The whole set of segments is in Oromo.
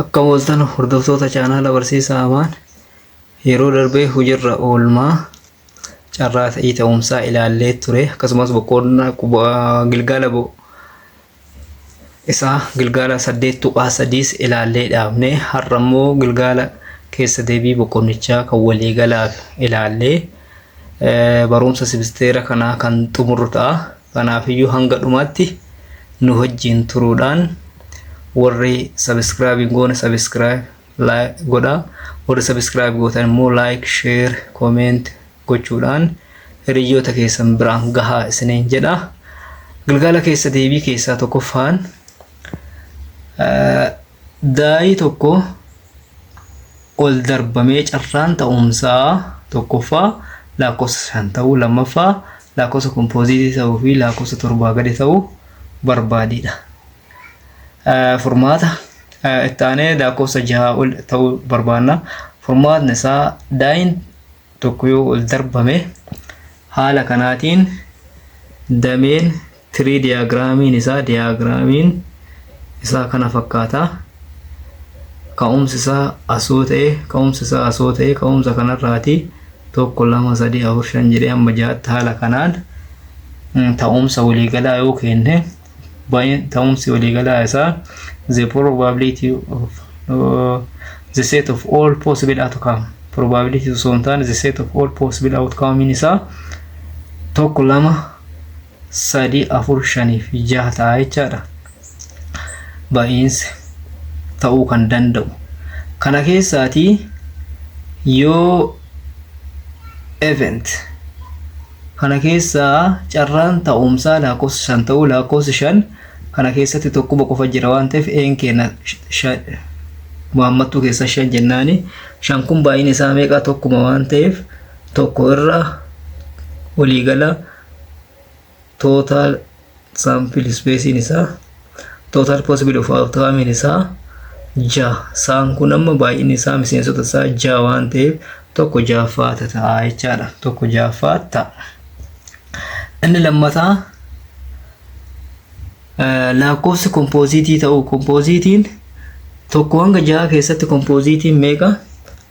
Akka ooltan hordoftoota chaanaala barsiisaa Amaan yeroo darbee hujirra oolmaa carraa ta'ii ta'umsaa ilaallee ture akkasumas boqonnaa gilgaala isaa gilgaala saddeet tuqaa sadiis ilaallee dhaabne har'a immoo gilgaala keessa deebii boqonnichaa kan waliigalaaf ilaallee Barumsa simisteera kanaa kan xumurru ta'a. Kanaafiyyuu hanga dhumaatti nu wajjin turuudhaan warri subscribe hin goone subscribe like godhaa. Warri subscribe gootan immoo like, share, comment gochuudhaan hiriyyoota keessan biraan gahaa isiniin jedha. Gilgaala keessa deebii keessaa tokkoffaan eh, daa'ii tokko ol darbamee carraan ta'umsaa tokkoffaa laakkofsa shan ta'uu lammaffaa laakkofsa kompooziitii ta'uu fi laakkofsa torbaa gadi ta'uu barbaadiidha. Furmaata itti aanee laakkofsa jahaa ol ta'uu barbaanna. Furmaatni isaa daayin tokko yoo ol darbame haala kanaatiin dameen Tirii diyaagiraamiin isaa diyaagiraamiin isaa kana fakkaata. Ka'umsi isaa asoo ta'e ka'umsi isaa asoo ta'e ka'umsa kanarraati tokko lama sadii afur shan jedhee amma ja'atti haala kanaan ta'umsa waliigalaa yoo kenne baay'een ta'umsi waliigalaa isaa the probability of uh, the set of all possible outcome probability osoo hin taane the set of all possible outcome isaa tokko lama 3, 4, 5 fi 6 ta'a jechaadha. Ba'iinsi ta'uu kan danda'u. Kana keessaatii yoo event kana keessaa carraan ta'umsaa lakkoofsa shan ta'uu lakkoofsi shan kana keessatti tokkuma qofa jira waan ta'eef een keenya muhammattuu keessa shan jennaani shan kun baay'een isaa meeqa tokkuma waan ta'eef tokko irra waliigala total sample space isaa total possible of outcome isaa ja'a saan kun amma baay'inni isaa miseensota isaa ja'a waan ta'eef tokko ja'affaa ta'a jechaadha tokko ja'affaa ta'a inni lammataa Laakkoofsi kompooziitii ta'uu kompooziitiin tokko hanga ja'a keessatti kompooziitiin meeqa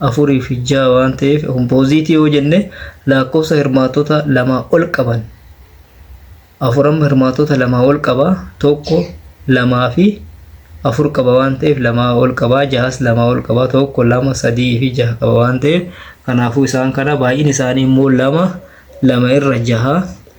afurii fi ja'a waan ta'eef kompooziitii yoo jenne laakkoofsa hirmaattota lamaa ol qaban afur amma hirmaattota lamaa ol qaba tokko lamaa fi afur qaba waan ta'eef lamaa ol qaba jahas lamaa ol qaba tokko lama sadii fi jaha qaba waan ta'eef kanaafuu isaan kana baay'een isaanii immoo lama lama irra jaha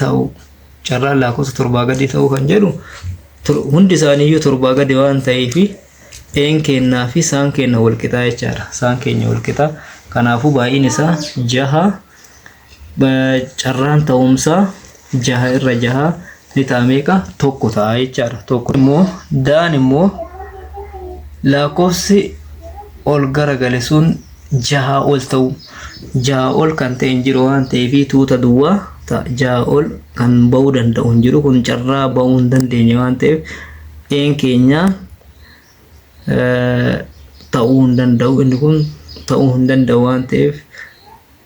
ta'uu carraan laakofsa torbaa gadii ta'uu kan jedhu hundi isaaniiyyuu torbaa gadi waan ta'ee fi een keennaa fi saan keenna wal qixaa jechaadha. Saan keenya wal qixaa. Kanaafuu baay'een isaa jaha carraan ta'umsaa jaha irra jaha ni ta'a meeqa tokko ta'a jechaadha. Tokko immoo daan immoo lakkoofsi ol garagale sun jahaa ol ta'uu. 6 ol kan ta'e hin jiru waan ta'eef tuuta duwwaa ta'a. 6 ol kan ba'uu danda'u hin jiru kun carraa ba'uu hin dandeenye waan ta'eef een keenya eh, ta'uu hin danda'u inni kun ta'uu hin danda'u waan ta'eef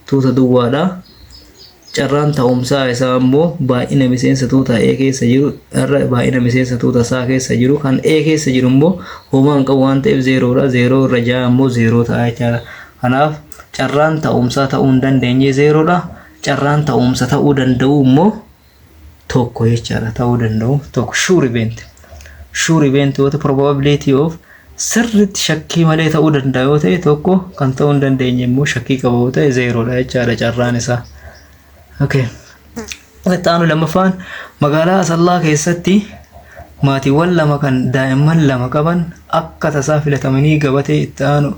tuuta duwwaadha. Carraan ta'umsaa isaa ammoo baay'ina miseensa tuuta A keessa jiru irra baay'ina miseensa tuuta isaa keessa jiru kan A keessa jiru immoo homaa hin qabu waan ta'eef zeeroodha. Zeeroo irra ja'a immoo zeeroo ta'a jechaadha. Kanaaf carraan ta'umsaa ta'uu hin dandeenye zeeroodha. Carraan ta'umsa ta'uu danda'u immoo tokko jechaadha ta'uu danda'u tokko sure event sure event yoo ta'e probability of sirriitti shakkii malee ta'uu danda'a yoo ta'e tokko kan ta'uu hin dandeenye immoo shakkii qaba yoo ta'e zeeroodha jechaadha carraan isaa. Okay. Itti aanu lammaffaan magaalaa Asallaa keessatti maatiiwwan lama kan daa'imman lama qaban akka tasaa filatamanii gabatee itti aanu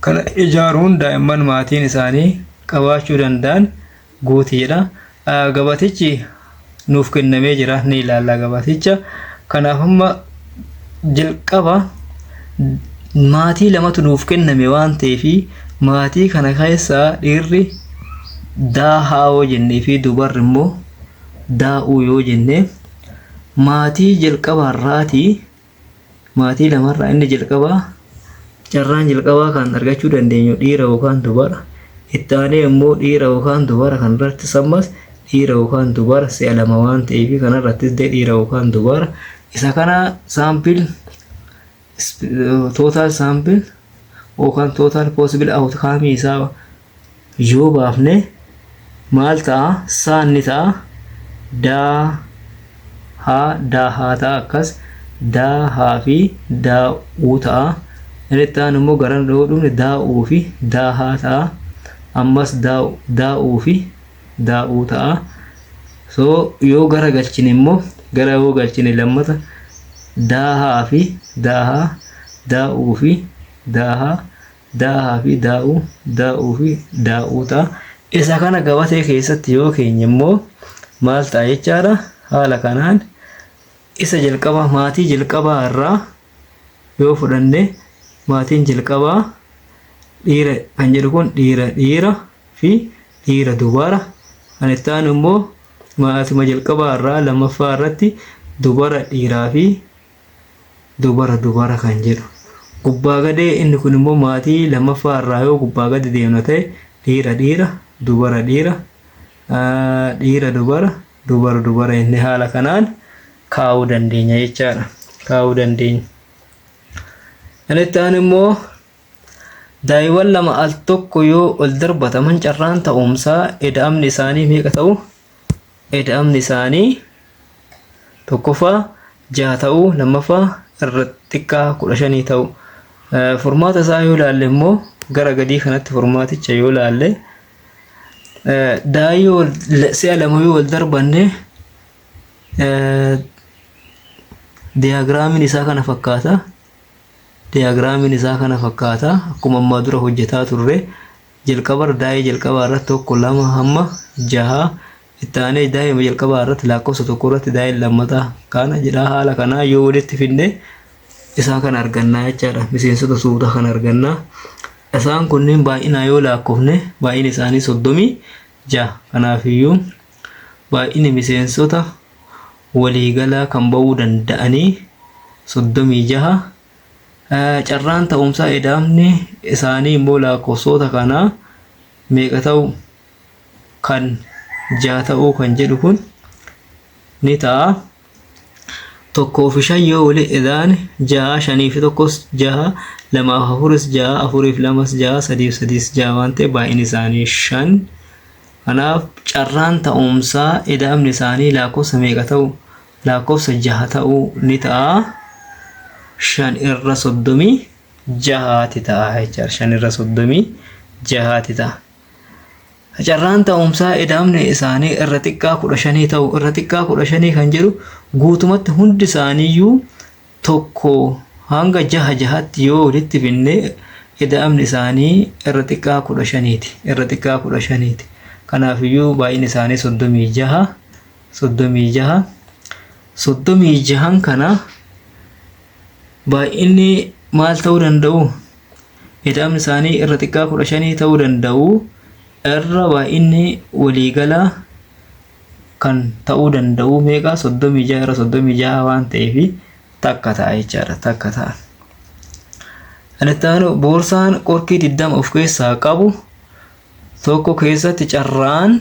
kana ijaaruun daa'imman maatiin isaanii qabaachuu danda'an guuti jedha. Gabaatichi nuuf kennamee jira ni ilaalla gabaaticha. Kanaaf amma jalqaba maatii lamatu nuuf kenname waan ta'eef maatii kana keessaa dhiirri daahaa yoo jennee fi dubarri immoo daa'uu yoo jenne maatii jalqabaarraatii Maatii lamarraa inni jalqabaa carraan jalqabaa kan argachuu dandeenyu dhiira yookaan dubara. Itti aanee immoo dhiira yookaan dubara kanarrattis ammas dhiira yookaan dubara si'a lama waan ta'eef kanarrattis illee dhiira yookaan dubara. Isa kana saampil tootaal saampil yookaan tootaal poosibil awutkaamii isaa yoo baafne maal ta'a? Saan ni ta'a. Daa haa daa haa ta'a akkas daa haa fi daa uu ta'a. Inni itti aanu immoo gara yoo dhufne daa uu fi daa haa ta'a. Ammas daa daa uu fi daa uu ta'a. So yoo gara galchine immoo gara yoo galchine lammata daa haa fi daa haa daa uu fi daa haa Daahaa fi daa'uu, daa'uu fi daa'uu ta'a. Isa kana gabatee keessatti yoo keenye immoo maal ta'a jechaadha? Haala kanaan isa jalqabaa maatii jalqabaa irraa yoo fudhanne maatiin jalqabaa dhiira kan jedhu kun dhiira dhiira fi dhiira dubara. Kan itti aanu immoo maatuma jalqabaa irraa lammaffaa irratti dubara dhiiraa fi Dubara dubara kan jedhu. Gubbaa gadee inni kun immoo maatii lammaffaa irraa yoo gubbaa gadi deemna ta'e dhiira dhiira dubara dhiira dhiira dubara dubara dubara inni haala kanaan kaa'uu dandeenya jechaadha. Kaa'uu dandeenya. Kan itti aanu immoo daa'iiwwan lama al tokko yoo ol darbataman carraan ta'umsaa eda'amni isaanii meeqa ta'u? Ida'amni isaanii tokkoffaa jaha ta'uu lammaffaa irra xiqqaa kudha shanii ta'uu furmaata isaa yoo ilaalle immoo gara gadii kanatti furmaaticha yoo ilaalle daa'ii yoo si'a lama yoo wal darbanne diyaagiraamiin isaa kana fakkaata. Diyaagiraamiin isaa kana fakkaata akkuma ammaa dura hojjetaa turre Jalqaba irra daa'ee jalqabaa irratti 1, 2-6 itti aanee daa'ima jalqabaa irratti laakkofsa 1 irratti daa'een lammataa kana jedhaa haala kanaa yoo walitti finne isaa kan argannaa jechaadha miseensota suuta kan argannaa isaan kunniin baay'inaa yoo laakkofne baay'ina isaanii 36 kanaafiyyuu baay'ini miseensota waliigalaa kan ba'uu danda'anii 36 Carraan ta'umsaa edaamni isaanii immoo laakkoofsoota kana meeqa ta'u kan ja'a ta'uu kan jedhu kun ni ta'a. Tokkoo fi shan yoo wali edaan ja'a shanii fi tokkos ja'a lamaa fi afuris ja'a afuriif lamas ja'a sadiif sadiis ja'a waan ta'e baay'inni isaanii shan. Kanaaf carraan ta'umsaa edaamni isaanii laakkoofsa meeqa ta'u Laakkofsa jaha ta'uu ni ta'a. Shan irra soddomii jahaati ta'a jechaadha. Shan irra soddomii jahaati ta'a. Carraan ta'umsaa ida'amni isaanii irra xiqqaa kudha shanii ta'u irra xiqqaa kudha shanii kan jedhu guutumatti hundi isaaniiyyuu tokko hanga jaha jahatti yoo walitti binne ida'amni isaanii irra xiqqaa kudha shaniiti. Irra xiqqaa kudha shaniiti. Kanaafiyyuu baay'inni isaanii soddomii jaha soddomii jaha soddomii jahan kana baay'inni maal ta'uu danda'u ida'amni isaanii irra xiqqaa kudha shanii ta'uu danda'u irra baay'inni waliigalaa kan ta'uu danda'u meeqa soddomii jaha irra soddomii jaha waan ta'eef takka ta'a jechaadha takka ta'a. Kan itti aanu boorsaan qorkii digdama of keessaa qabu tokko keessatti carraan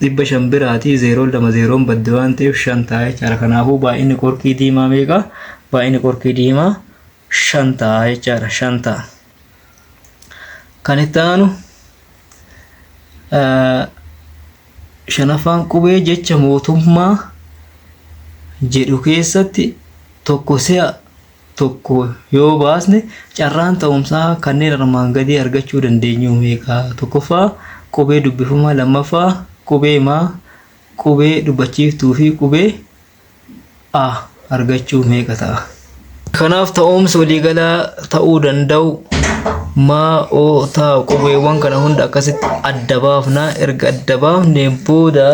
dhibba shan biraatii zeeroon lama zeeroon badde waan ta'eef shan ta'a jechaadha. Kanaafuu baay'inni qorkii diimaa meeqa? Baay'inni qorkii diimaa shan ta'a jechaadha. Shan ta'a. Kan itti aanu shanaffaan qubee jecha mootummaa jedhu keessatti tokko si'a tokko yoo baasne carraan ta'umsaa kanneen armaan gadii argachuu dandeenyu meeqa? Tokkoffaa, qubee dubbifamaa lammaffaa, qubee maa, qubee dubbachiiftuu fi qubee a argachuu meeqa ta'a? Kanaaf ta'umsi waliigalaa ta'uu danda'u maa, o, ta qubeewwan kana hunda akkasitti adda baafna. Erga adda baafneen booda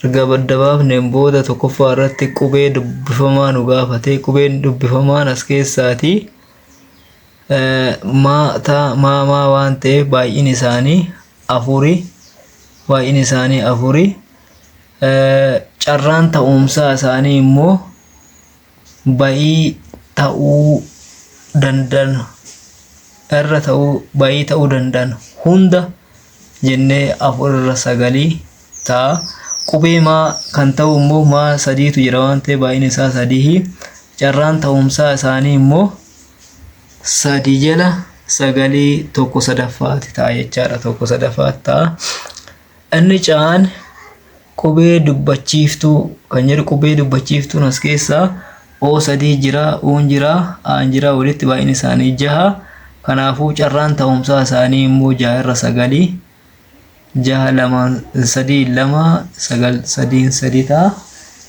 Erga adda baafneen booda tokkoffaa irratti qubee dubbifamaa nu gaafate. Qubeen dubbifamaan as keessaati. Maa, taa, maa, maa waan ta'eef baay'inni isaanii afuri. Baay'inni isaanii afuri. Carraan ta'umsaa isaanii immoo bayii ta'uu danda'an irra ta'uu bayii ta'uu danda'an hunda jennee afur irra sagalii ta'a. Qubee maa kan ta'u immoo maa sadiitu jira waan ta'eef baay'een isaa sadihi. Carraan ta'umsaa isaanii immoo sadi jala sagalii tokko sadaffaati ta'a jechaadha tokko sadaffaatti ta'a. Inni caan qubee dubbachiiftuu kan jedhu qubee dubbachiiftuun as keessaa O sadii jira, Uun jira, Aan jira walitti baay'inni isaanii jaha. Kanaafuu carraan ta'umsaa isaanii immoo jaha irra sagali. Jaha lamaan sadii lama sagal sadiin sadii ta'a.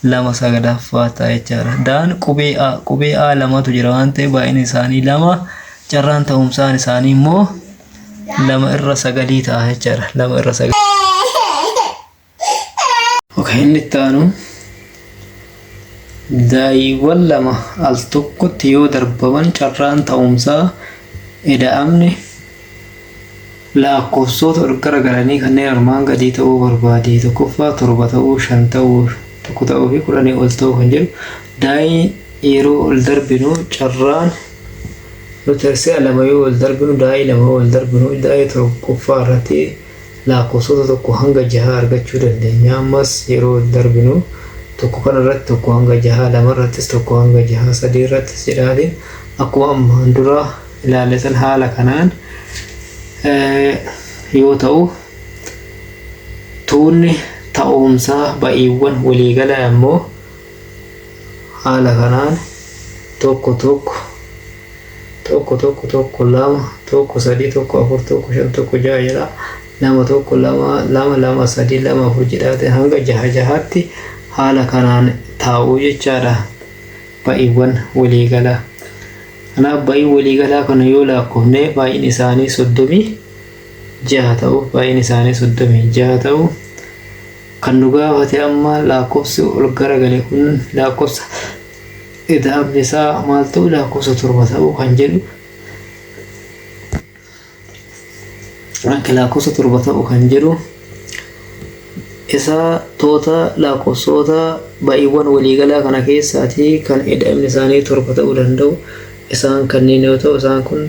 Lama sagalaffaa ta'a jechaadha. Daan qubee A qubee A lamatu jira waan ta'eef baay'inni isaanii lama. Carraan ta'umsaan isaanii immoo lama irra sagalii ta'a jechaadha lama irra sagalii okay inni itti aanu daa'iiwwan lama al tokkotti yoo darbaman carraan ta'umsaa ida'amni lakkoofsoota ol garagalanii kanneen armaan gadii ta'uu barbaade tokkoffaa torba ta'uu shan ta'uu tokko ta'uu fi kudhanii ol ta'uu kan jedhu daa'ii yeroo ol darbinu carraan Matarsiyaa lama yoo wal darbinu daa'ii lama yoo wal darbinu daa'ii tokkoffaa irratti laakkoofsota tokko hanga jahaa argachuu dandeenya. Ammas yeroo wal darbinu tokko kana irratti tokko hanga jahaa lama irrattis tokko hanga jahaa sadii irrattis jedhaatiin akkuma ammaan dura ilaalle san haala kanaan yoo ta'u tuunni ta'umsaa ba'iiwwan waliigalaa immoo Haala kanaan tokko tokko tokko tokko tokko lama tokko sadii tokko afur tokko shan tokko jaha jedha lama tokko lama lama lama sadii lama afur jedhaate hanga jaha jahaatti haala kanaan taa'uu jechaadha ba'iiwwan waliigalaa. Kanaaf ba'ii waliigalaa kana yoo laakkofne baay'in isaanii soddomii jaha ta'u baay'een isaanii 36 ta'u kan nu gaafate amma laakkofsi ol garagale kun laakkofsa ida'amni isaa maal ta'u laakkofsa torba ta'u kan jedhu akka laakkofsa torba ta'u kan jedhu isaa toota laakkofsoota baay'eewwan waliigalaa kana keessaatii kan ida'amni isaanii torba ta'uu danda'u isaan kanneen yoo ta'u isaan kun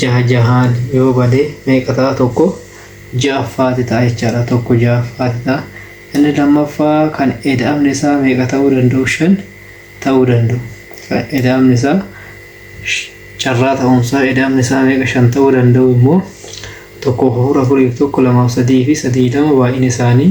jaha jahaan yoo bade meeqa ta'a tokko ja'affaati ta'a jechaadha tokko ja'affaati ta'a inni lammaffaa kan eda'amni isaa meeqa ta'uu danda'u shan ta'uu danda'u kan eda'amni isaa carraa ta'umsaa eda'amni isaa meeqa shan ta'uu danda'u immoo tokkoof afur afuriif tokko lamaaf sadii fi sadii lama baay'ina isaanii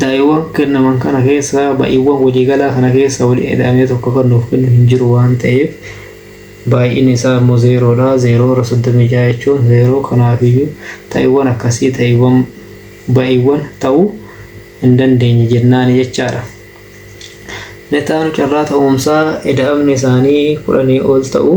Da'iiwwan kennaman kana keessaa ba'iiwwan waliigalaa kana keessaa waliin ida'amee tokko kan nuuf kennu hin jiru waan ta'eef baay'inni isaa immoo zeeroo dha. Zeeroo irra 36 jechuun zeeroo kanaaf iyyuu ta'iiwwan akkasii ta'iiwwan ba'iiwwan ta'uu hin dandeenye jennaani jechaa dha. Inni itti aanu carraa ta'umsaa ida'amni isaanii kudhanii ol ta'uu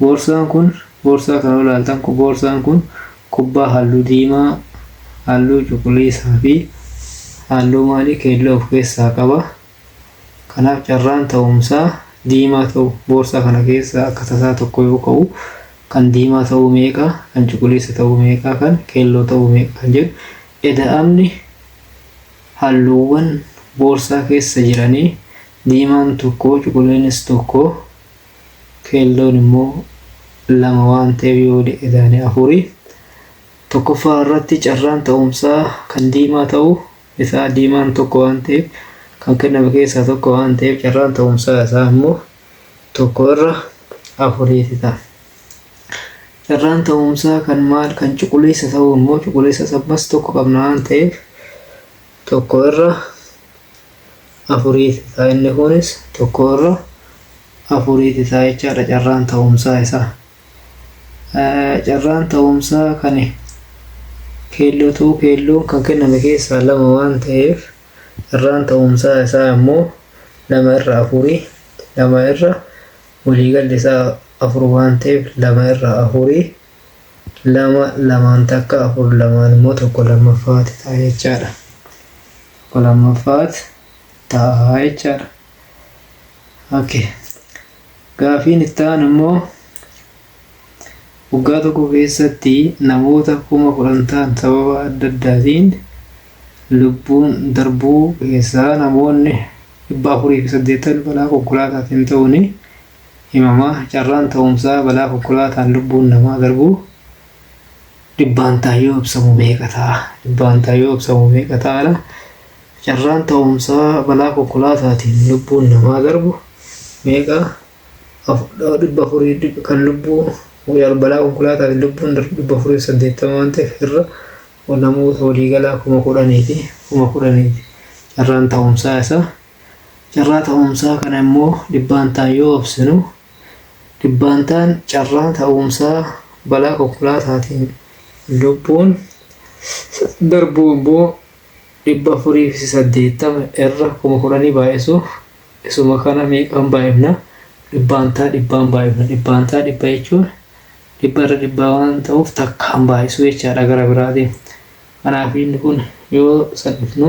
Boorsaan kun boorsaa kana yoo ilaaltan boorsaan kun kubbaa halluu diimaa, halluu cuquliisaa fi halluu maalii keelloo of keessaa qaba. Kanaaf carraan ta'umsaa diimaa ta'u boorsaa kana keessaa akka tasaa tokko yoo ka'u kan diimaa ta'uu meeqa, kan cuquliisa ta'uu meeqa, kan keelloo ta'uu meeqa kan jedhu eda'amni halluuwwan boorsaa keessa jiranii diimaan tokko cuquliinis tokko keelloon immoo lama waan ta'eef yoo waliin idaane afuri. Tokkoffaa irratti carraan ta'umsaa kan diimaa ta'u isaa diimaan tokko waan ta'eef kan kenname keessaa tokko waan ta'eef carraan ta'umsaa isaa immoo tokko irra afuriiti ta'a. Carraan ta'umsaa kan maal kan cuquliisa ta'u immoo cuquliisa sabmas tokko qabna waan ta'eef tokko irra afuriiti ta'a inni kunis 1 irra 4ti ta'a jechaadha carraan ta'umsaa isaa carraan ta'umsaa kan keelloo ta'uu keelloon kan kenname keessaa lama waan ta'eef carraan ta'umsaa isaa immoo lama irra afurii lama irra waliigalli isaa afur waan ta'eef lama irra afurii lama lamaan takka afur lamaan immoo tokko lammaffaati ta'a jechaadha. tokko lammaffaat ta'a jechaadha. Okay. Gaafiin itti aanu immoo waggaa tokko keessatti namoota kuma kudhan ta'an sababa adda addaatiin lubbuun darbuu keessaa namoonni dhibba afurii fi saddeettan balaa konkolaataatiin ta'uun himama. Carraan ta'umsaa balaa konkolaataan lubbuun namaa darbuu dhibbaantaan yoo ibsamu meeqa ta'a? Dhibbaantaan yoo ibsamu meeqa ta'aadha? Carraan ta'umsaa balaa konkolaataatiin lubbuun namaa darbu meeqa? Dhibba afurii kan lubbuu balaa konkolaataatiin lubbuun darbu dhibba afurii fi saddeettama waan ta'eef irra namoota waliigalaa kuma kudhaniiti. Kuma kudhaniiti. Carraan ta'umsaa isaa. Carraa ta'umsaa kana immoo dhibbaantaan yoo ibsinu Dhibbaantaan carraan ta'uumsaa balaa konkolaataatiin lubbuun darbuu immoo 480 irra 10,000 baay'isuuf isuma kana meeqaan baay'ifna? Dhibbaantaa dhibbaan baay'ifna. Dhibbaantaa dhibba jechuun dhibba irra dhibbaa waan ta'uuf takkaan baay'isuu jechaadha gara biraatiin. Kanaaf inni kun yoo salphifnu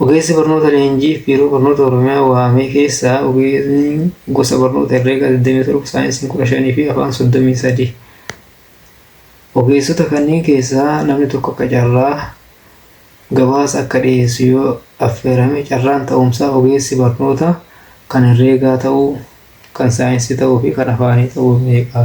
Ogeessi barnoota leenjiif Biiroo Barnoota Oromiyaa waamee keessaa ogeesni gosa barnoota herreegaa 27, saayinsiin 15 fi afaan 33. Ogeessota kanneen keessaa namni tokko akka carraa gabaasa akka dhiyeessu yoo affeerame carraan ta'umsaa ogeessi barnoota kan herreegaa ta'uu, kan saayinsii ta'uu fi kan afaanii ta'uu meeqa?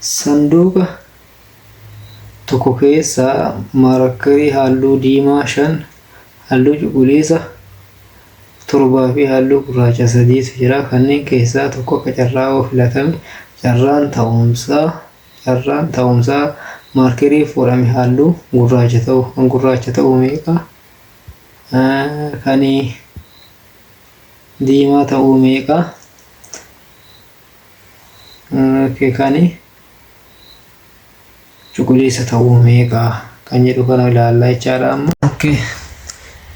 Sanduuqa tokko keessaa maarakkarii halluu diimaa 5, halluu cuquliisa 7 fi halluu gurraacha 3tu jira. Kanneen keessaa tokko akka carraa yoo filatame carraan ta'umsaa carraan ta'umsaa maarkerii fuudhame halluu gurraacha ta'u kan gurraacha ta'u meeqa? Kani diimaa ta'uu meeqa okay, kani cuquliisa ta'uu meeqa kan jedhu kana ilaallaa jechaadha amma. Okay.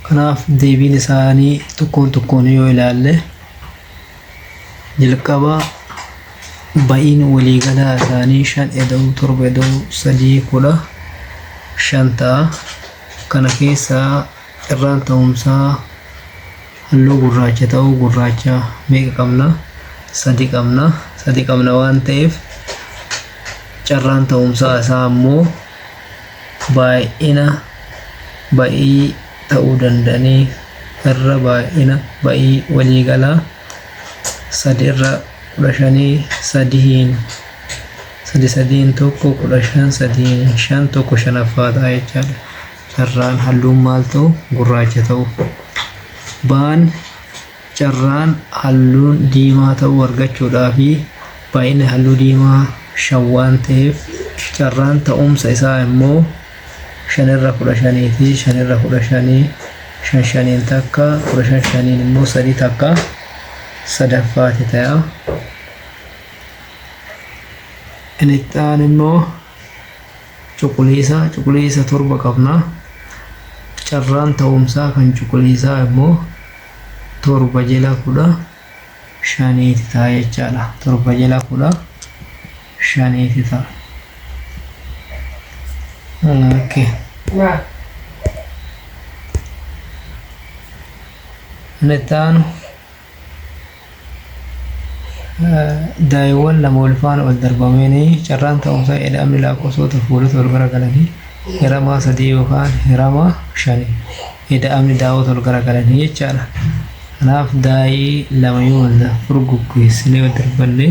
Kanaaf deebiin isaanii tokkoon tokkoon yoo ilaalle jalqaba ba'iin waliigalaa isaanii shan eda'uu torba eda'uu sadii kudha shan ta'a. Kana keessaa Carraan ta'umsaa halluu gurraacha ta'uu gurraacha meeqa qabna? Sadi qabna. Sadi qabna waan ta'eef carraan ta'umsaa isaa ammoo baay'ina ba'ii ta'uu danda'anii irra baay'ina ba'ii walii galaa sadi irra kudha shanii sadihiin sadi sadiin tokko kudha shan sadiin shan tokko shanaffaa ta'a jechaadha. carraan halluun maal ta'u gurraacha ta'u baan carraan halluun diimaa ta'u argachuudhaa fi baay'inni halluu diimaa shan waan ta'eef carraan ta'umsa isaa immoo shanirra kudha shaniiti shanirra kudha shanii shan shaniin takka kudha shan shaniin immoo sadii takka sadaffaati ta'a. Inni itti aanu immoo cuquliisaa cuquliisa torba qabna. Carraan ta'umsaa kan cuquliisaa immoo torba jala kudha shaniiti ta'a jechaadha. Torba jala kudha shaniiti ta'a. Okay. Inni itti aanu Daa'iiwwan lama walfaana waldarbamanii carraan ta'umsa ida'amni laakkofsoota fuulota walgaragalanii hiramaa 3 yookaan hiramaa 5 ida'amni daawota walgaragalanii jechaadha. Kanaaf daa'ii lama yoo wal furguggeessinee wal darbannee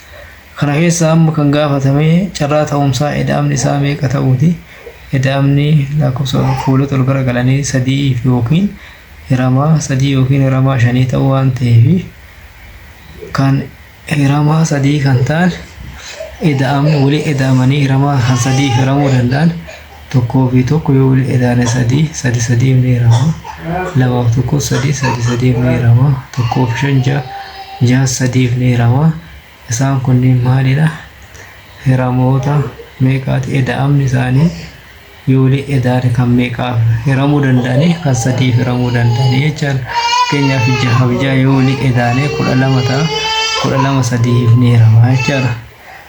Kana keessaa amma kan gaafatame carraa ta'umsaa eda'amni isaa meeqa ta'uuti. Eda'amni lakkoofsa fuulota ol gara galanii sadi'iif yookiin hiramaa sadii yookiin hiramaa shanii ta'uu waan ta'eef kan hiramaa sadii kan ta'an eda'amni waliin eda'amanii hiramaa kan sadii hiramuu danda'an tokkoo fi tokko yoo walitti edaane sadii sadi sadii meerama lamaaf tokko sadii sadi sadii meerama tokkoo fi shan ja'a ja'a sadiif meerama isaan kunniin maalidha hiramoota meeqaati eda'amni isaanii yoo walitti edaane kan meeqaaf hiramuu danda'anii kan sadiif hiramuu danda'anii jechaan keenyaaf jahaaf ja'a yoo walitti edaane kudha lama ta'a kudha lama sadiif meerama jechaadha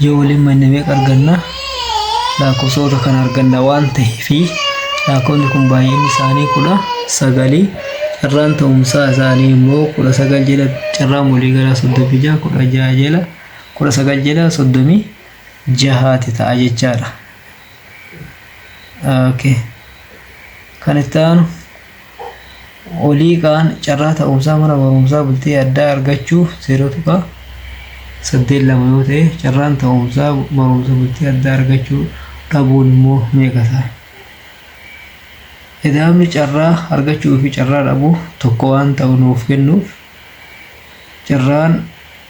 Yoo waliin manne meeqa arganna? Laakkofsoota kana arganna waan ta'eef laakkofni kun baay'inni isaanii kudha sagali carraan ta'umsaa isaanii immoo kudha sagal jala carraan walii galaa soddomii jaha kudha jaha jala kudha sagal jala soddomii jahaati ta'a jechaadha. Okay. Kan itti aanu olii ka'an carraa ta'umsaa mana barumsaa bultii addaa argachuuf 0.82 yoo ta'e carraan ta'umsaa barumsa bultii addaa argachuu dhabuun immoo meeqa ta'a? Ida'amni carraa argachuu fi carraa dhabuu tokko waan ta'u nuuf kennuuf carraan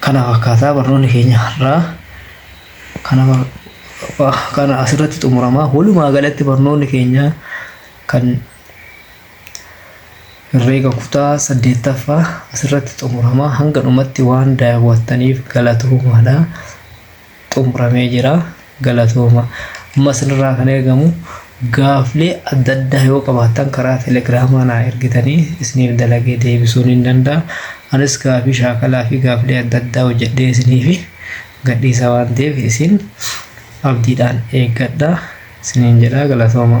Kana fakkaataa barnoonni keenya har'aa kana kana asirratti xumuramaa walumaa galatti barnoonni keenya kan herreega kutaa saddeettaffaa asirratti xumuramaa hanga dhumatti waan daawwattaniif galatoomaadha. xumuramee jira galatooma amma isinirraa kan eegamu gaaflee adda addaa yoo qabaattan karaa telegiraamaa naa ergitanii isiniif dalagee deebisuun hin danda'a anis gaafii shaakalaa fi gaaflee adda addaa hojjedhee isiniif gadhiisa waan ta'eef isin abdiidhaan eeggadha isiniin jedha galatooma.